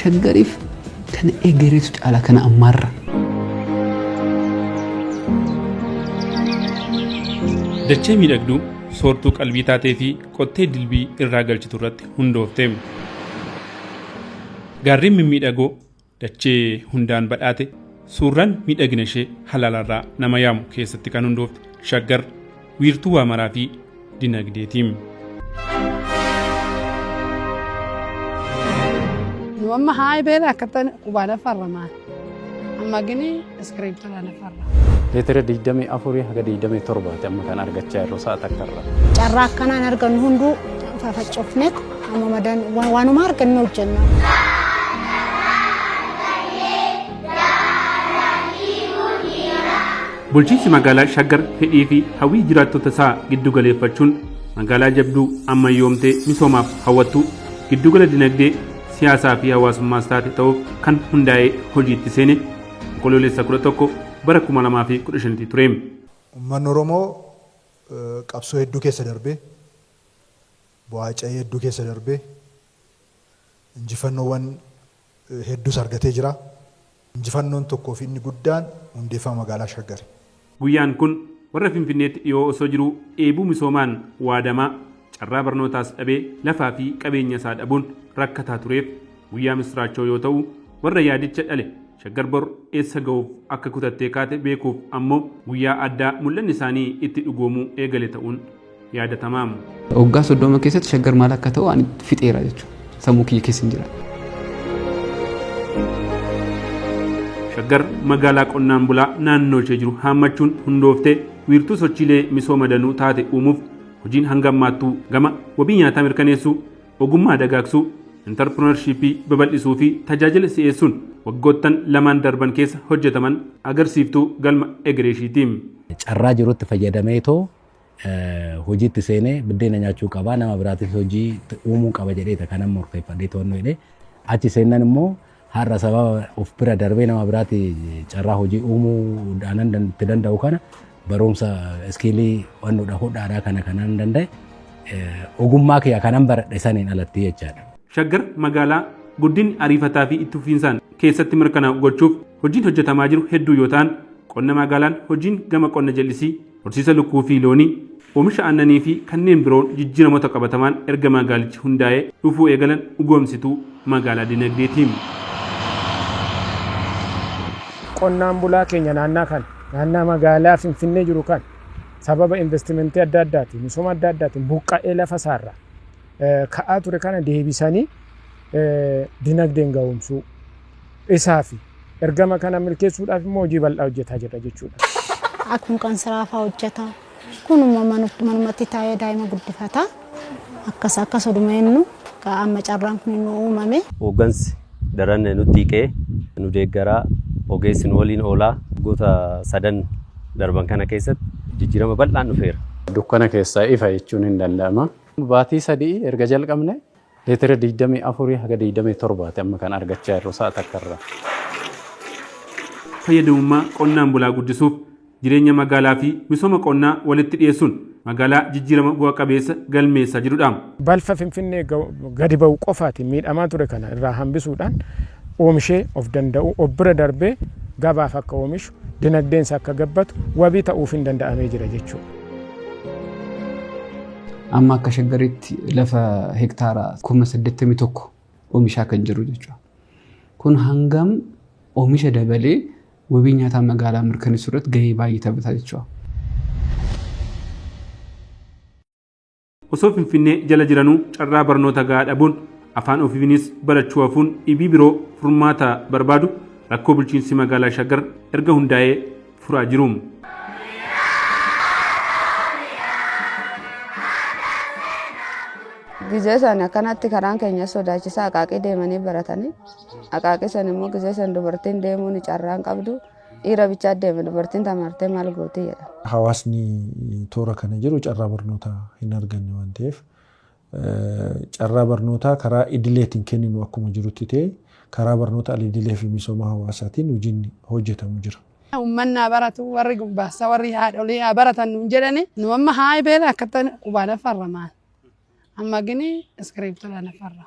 shaggariif kana egereetu caala kana ammaarra. Dachee miidhagduu soortuu qalbii taatee fi qottee dilbii irraa galchitu irratti hundoofte. Gaarreen mimmiidhagoo Dachee hundaan badhaate suurran miidhagina ishee halaalarraa nama yaamu keessatti kan hundoofte shaggar wiirtuu waa maraa fi dinagdeetiim. Nu amma haa'e beela akkatan qubaadhaaf farramaan. Amma gini Iskiriiptota lafarra. Leetira 24 haga 27 ti amma kan argachaa jirru sa'a takkarra. Carraa akkanaan argannu hunduu fafaccofne amma madan waanuma arganne hojjenna. Bulchiinsi magaalaa Shaggar fedhii fi hawwii jiraattota isaa giddu galeeffachuun magaalaa jabduu ammayyoomtee misoomaaf hawwattu giddugala dinagdee siyaasaa fi hawaasummaas taate ta'uuf kan hundaa'ee hojiitti seene Onkoloolessa 11 bara 2015 ture. Ummanni Oromoo qabsoo hedduu keessa darbee, bu'aa ca'ii hedduu keessa darbee, injifannoowwan hedduus argatee jira. Injifannoon tokkoo fi inni guddaan hundeeffama magaalaa Shaggari. Guyyaan kun warra Finfinneetti dhiyoo osoo jiruu dheebuu misoomaan waadamaa, carraa barnootaas dhabee lafaa fi qabeenya isaa dhabuun rakkataa tureef guyyaa misraachoo yoo ta'u, warra yaadicha dhale Shaggar bor eessa gahuuf akka kutattee kaate beekuuf ammoo guyyaa addaa mul'anni isaanii itti dhugoomuu eegale ta'uun yaadatamaa. Waggaa 30 keessatti shaggar maal akka ta'u ani fixeera jechuudha. Sammuu kiyya keessa hin jira. Shaggar magaalaa qonnaan bulaa naannoo ishee jiru haammachuun hundooftee wiirtuu sochiilee misooma danuu taate uumuuf hojiin hanga ammaattuu gama wabii nyaataa mirkaneessuu, ogummaa dagaagsuu, intarpirinarshiippii babal'isuu fi tajaajila si'eessuun waggoottan lamaan darban keessa hojjetaman agarsiiftuu galma egereeshiiti. Carraa jirutti fayyadameetoo hojiitti seenee biddeena nyaachuu qaba nama biraatis hojii uumuu qaba jedheeta kanan murteeffadhee to'annoo jedhee achi seennan immoo har'a sababa of bira darbee nama biraati carraa hojii uumuu dhaanan itti danda'u kana barumsa iskiilii wannoodha hodhaadhaa kana kanan danda'e ogummaa kiyya kanan baradhe saniin alatti jechaadha. Shaggar magaalaa guddinni ariifataa fi itti fufiinsaan keessatti mirkanaa'u gochuuf hojiin hojjetamaa jiru hedduu yoo ta'an qonna magaalaan hojiin gama qonna jallisii Horsiisa lukkuu fi loonii, oomisha aannanii fi kanneen biroon jijjiiramoota qabatamaan erga magaalichi hundaa'ee dhufuu eegalan dhugoomsituu magaalaa dinagdee ti. Qonnaan bulaa keenya naannaa kana, naannaa magaalaa Finfinnee jiru kana sababa investimentii adda addaatiin, misooma adda addaatiin buqqa'ee lafa isaarraa ka'aa ture kana deebisanii dinagdeen gahoomsuu, Isaafi. Ergama kana milkeessuudhaaf immoo hojii bal'aa hojjetaa jirra jechuudha. Akkuma kan siraa fa'aa hojjeta. Kunuma manumatti taa'ee daa'ima guddifata. Akkas akkas oduma jennu amma carraan kun nu uumame. Hooggansi daran nutti hiqee nu deeggaraa ogeessi nu waliin oolaa. Waggoota sadan darban kana keessatti jijjiirama bal'aan dhufeera. Dukkana keessaa ifa jechuun hin danda'ama. Baatii sadii erga jalqabne Leetira 24 haga 27 ti amma kan argachaa jirru sa'a takka irra. Fayyadamummaa qonnaan bulaa guddisuuf jireenya magaalaa fi misooma qonnaa walitti dhiyeessuun magaalaa jijjiirama bu'a qabeessa galmeessaa jirudha. Balfa Finfinnee gadi ba'u qofaatiin miidhamaa ture kana irraa hambisuudhaan oomishee of danda'uu, of bira darbee gabaaf akka oomishu, dinagdeensaa akka gabbatu wabii ta'uuf hin danda'amee jira jechuudha. Amma akka shaggaritti lafa hektaara kuma 81 oomishaa kan jiru jechuudha. Kun hangam oomisha dabalee wabii nyaataa magaalaa mirkaneessuu irratti gahee baay'ee taphata jechuudha. Osoo Finfinnee jala jiranuu carraa barnoota gahaa dhabuun afaan ofiinis barachuu hafuun dhibii biroo furmaata barbaadu rakkoo bulchiinsi magaalaa Shaggar erga hundaa'ee furaa jiru. Gizee san akkanatti karaan keenya sodaachisaa aqaaqii deemanii baratanii aqaaqii san immoo gizee san dubartiin deemuun carraan qabdu Dhiira bichaa deeme dubartiin tamaartee maal gootii jedha. Hawaasni toora kana jiru carraa barnootaa hin arganne waan ta'eef carraa barnootaa karaa idileetiin kenninu akkuma jirutti ta'e karaa barnoota alidilee fi misooma hawaasaatiin hojiin hojjetamu jira. Uummanni haa baratu warri gubbaassa warri haadholii haa baratan nuun jedhani nu amma haa beela akka ta'an qubaan farramaan. Amma gini iskiriiptoo lanafarra.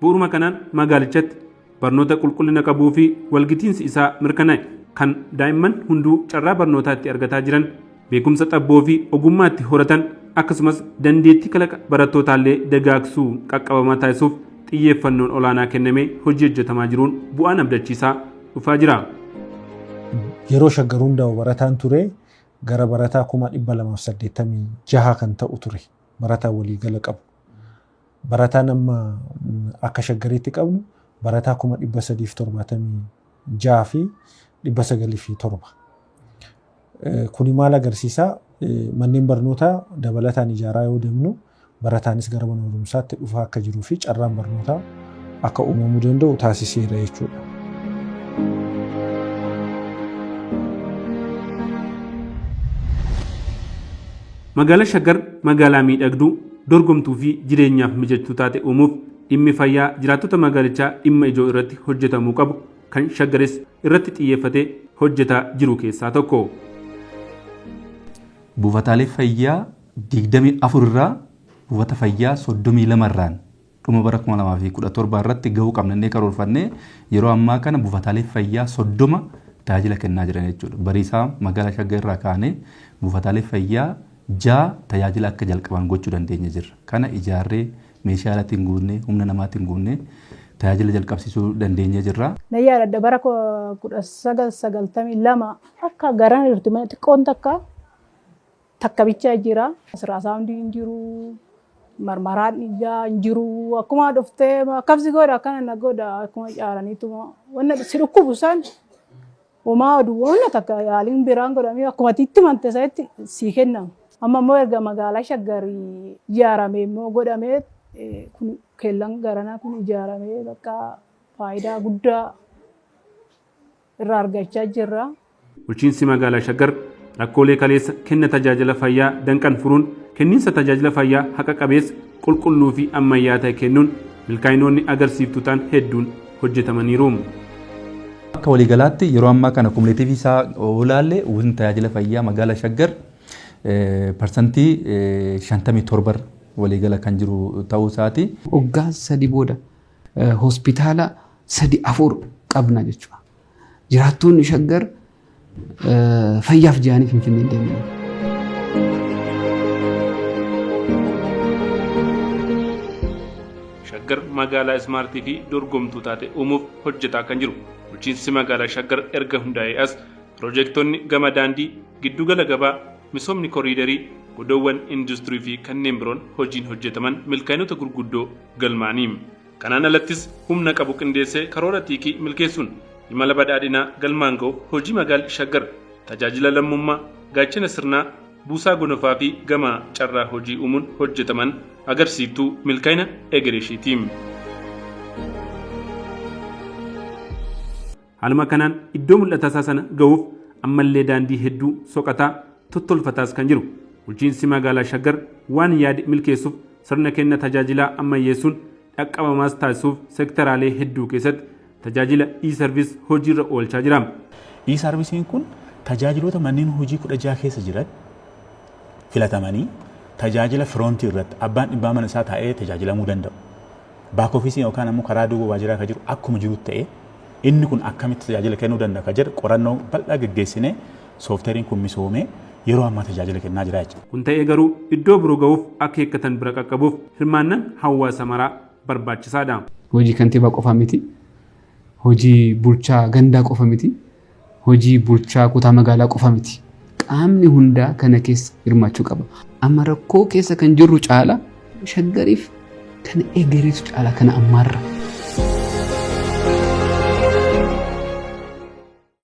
Bu'uruma kanaan magaalichatti barnoota qulqullina qabuu fi walgitiinsi isaa mirkanaa'e kan daa'imman hunduu carraa barnootaa itti argataa jiran, beekumsa xabboo fi ogummaa itti horatan akkasumas dandeettii kalaqa barattootaallee dagaagsuu qaqqabamaa taasisuuf xiyyeeffannoon olaanaa kennamee hojii hojjetamaa jiruun bu'aan abdachiisaa dhufaa jira. Yeroo Shaggar hundaa'u barataan ture gara barataa 286,000 kan ta'u ture. barataa waliigala qabu. Barataan amma akka shaggariitti qabnu barataa kuma dhibba sadiif torbaatamii ja'a fi dhibba sagalii fi torba. Kuni maal agarsiisaa? Manneen barnootaa dabalataan ijaaraa yoo deemnu barataanis gara mana barumsaatti dhufaa akka jiruu fi carraan barnootaa akka uumamuu danda'u taasiseera jechuudha. Magaalaa Shaggar magaalaa miidhagduu, dorgomtuu fi jireenyaaf mijattuu taate uumuuf dhimmi fayyaa jiraattota magaalichaa dhimma ijoo irratti hojjetamuu qabu kan Shaggaris irratti xiyyeeffatee hojjetaa jiru keessaa tokko. Buufataalee fayyaa 24 irraa buufata fayyaa 32 irraan Dhuma bara 2017 irratti gahuu qabna jennee karoorfannee yeroo ammaa kana buufataalee fayyaa 30 tajaajila kennaa jiran jechuudha. Bariisaa magaalaa Shaggar irraa kaanee buufataalee fayyaa 6 tajaajila akka jalqaban gochuu dandeenye jirra. Kana ijaarree meeshaa alaatiin guunnee humna namaatiin guunnee tajaajila jalqabsiisuu dandeenyee jirra. Nan yaadadha bara 1992 akka garan irti xiqqoon takka Takka bicha jira. Asirraa saawundii hin jiru. Marmaraan dhiigaa hin jiru. Akkuma dhuftee akkam si godha akkana na godha akkuma caaraniituma wanna si dhukkubu san homaa oduu wanna takka yaaliin biraan godhamee akkuma itti mante sanitti sii kennamu. Amma immoo erga magaalaa shaggarii ijaaramee immoo godhamee kun keellan garanaa kun ijaaramee bakka faayidaa guddaa irraa argachaa jirra. Bulchiinsi Magaalaa Shaggar rakkoolee kaleessa kenna tajaajila fayyaa danqan furuun kenniinsa tajaajila fayyaa haqa qabeessa, qulqulluu fi ammayyaa ta'e kennuun milkaa'inoonni agarsiiftuu ta'an hedduun hojjetamaniiru. Akka waliigalaatti yeroo ammaa kana kumuleetiivii isaa yoo ilaalle uwwisni tajaajila fayyaa magaalaa Shaggar parsantii 57 irra waliigala kan jiru ta'uu isaati. Waggaa sadi booda hospitaala sadi afur qabna jechuudha. Jiraattoonni shaggar fayyaaf jedhanii finfinnee deemanii. Shaggar magaalaa ismaartii fi dorgomtuu taate uumuuf hojjetaa kan jiru bulchiinsi magaalaa Shaggar erga hundaa'ee as piroojektonni gama daandii, giddugala gabaa, misoomni koriidarii, godoowwan industirii fi kanneen biroon hojiin hojjetaman milkaa'inoota gurguddoo galmaanii. Kanaan alattis humna qabu qindeessee karoora xiiqii milkeessuun imala badhaadhinaa galmaan ga'uuf hojii Magaal Shaggar tajaajila lammummaa, gaachena sirnaa, buusaa gonofaa fi gamaa carraa hojii uumuun hojjetaman agarsiiftuu milkaa'ina egereeshiiti. Haaluma kanaan iddoo mul'atasaa sana gahuuf ammallee daandii hedduu soqataa, tottolfataas kan jiru. Bulchiinsi Magaalaa Shaggar waan yaade milkeessuuf sirna kenna tajaajilaa ammayyeessuun dhaqqabamaas taasisuuf sektaraalee hedduu keessatti tajaajila E-Service hojiirra oolchaa jira. E-Service'n kun tajaajiloota manneen hojii 16 keessa jiran filatamanii tajaajila firoontii irratti abbaan dhibbaa mana isaa taa'ee tajaajilamuu danda'u Back office yookaan ammoo karaa duuba waajiraa ka jiru akkuma jirutti ta'ee inni kun akkamitti tajaajila kennuu danda'a ka jedhu qorannoo bal'aa geggeessinee soofteeriin kun misoomee yeroo ammaa tajaajila kennaa jira jechuudha. Kun ta'ee garuu iddoo biroo gahuuf akeekkatan bira qaqqabuuf hirmaannan hawaasa maraa barbaachisaadha. Hojii kantiibaa qofa miti, hojii bulchaa gandaa qofa miti. Hojii bulchaa kutaa magaalaa qofa miti. Qaamni hundaa kana keessa hirmaachuu qaba. Amma rakkoo keessa kan jirru caala shaggariif kana egereetu caala kana ammaarra.